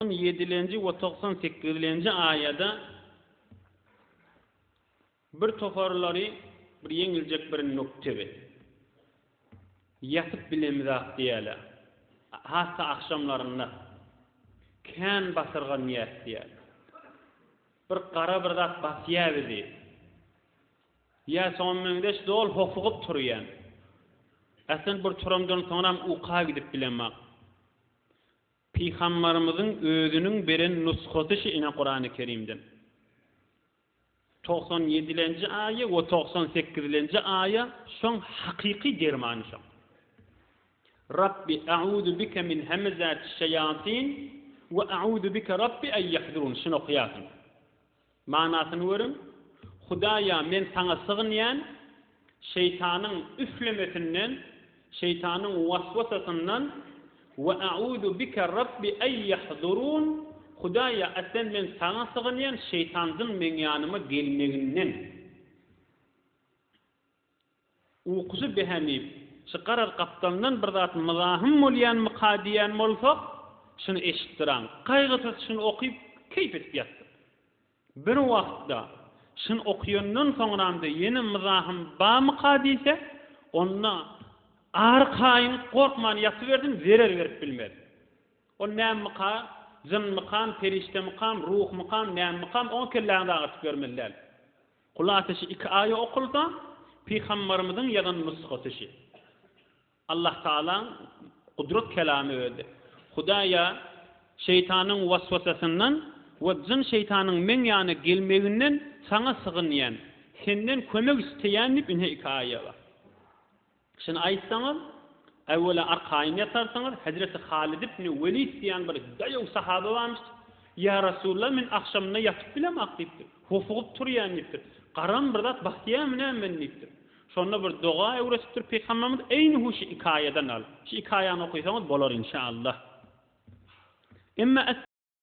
On ýedilenji we togsan sekizlenji aýada bir toparlary bir ýeňiljek bir noktebi ýatyp bilemizak diýýäler. Hassa agşamlarynda kän basyrgan ýäs diýýär. Bir gara bir zat basýar bizi. Ýa şoňa meňzeş dol hofugyp turýan. Äsen bir turamdan soňram uka gidip bilemok. Pygambarymyzyň özüniň beren nusgasy şu ine Kurany Kerimden. Togsan ýedilenji aýa we togsan sekizilenji aýa şoň hakyky dermany şoň. Rabbi a'uzu bike min hemezati şeýatin we a'uzu bike Rabbi en ýahdurun şuny okaýarsyň. Manysyny görüň, Hudaýa men saňa sygynýan, şeýtanyň üflemesinden, şeýtanyň waswasasyndan, Wa a'uzu bika Rabbi ay yahdurun, Hudaýa aslen men saňa sygynýan şeýtanzyň meň ýanyma gelmeginden. Ukusy behemip, çykarar gapdalyndan bir zat myzahym bolýanmyka diýýän bolsa, şuny eşitdiräň, gaýgysyz şuny okyp, keýp edip ýatdyk. Bir wagtda, şuny okaýandan soňram-da ýene myzahym bamyka diýse, onda arkaýyn gorkman ýatyberdim, zerer berip bilmedim. Ol nämmika, jynmykam, perişdemikam, ruhmykam, nämmikam, oňa kelläňizi agyrtyp ýörmeli däl. Kul ateşi iki aýa okulsa, Pygambarymyzyň ýazan nusgasy şi. Allah Tagalaň gudrat kelamy özi. Hudaýa şeýtanyň waswasasyndan we jyn-şeýtanyň meň ýana gelmeginden saňa sygynýan, senden kömek isleýän diýip ine iki aýa bar. Şuny aýtsaňyz, äwwela arkaýyn ýatarsyňyz, hezreti Halyt ibni Welid diýen bir daýaw sahaba barmyş, Ýa Rasulalla, men agşamyna ýatyp bilemok diýipdir, hofugyp turýan diýipdir, garam bir zat basýamy näme meni diýipdir. Şonda bir doga öwretipdir Pygamberimiz, eýni hu şu ikaýadan alyp, şu ikaýany okaýsaňyz bolar inşa Allah. Emma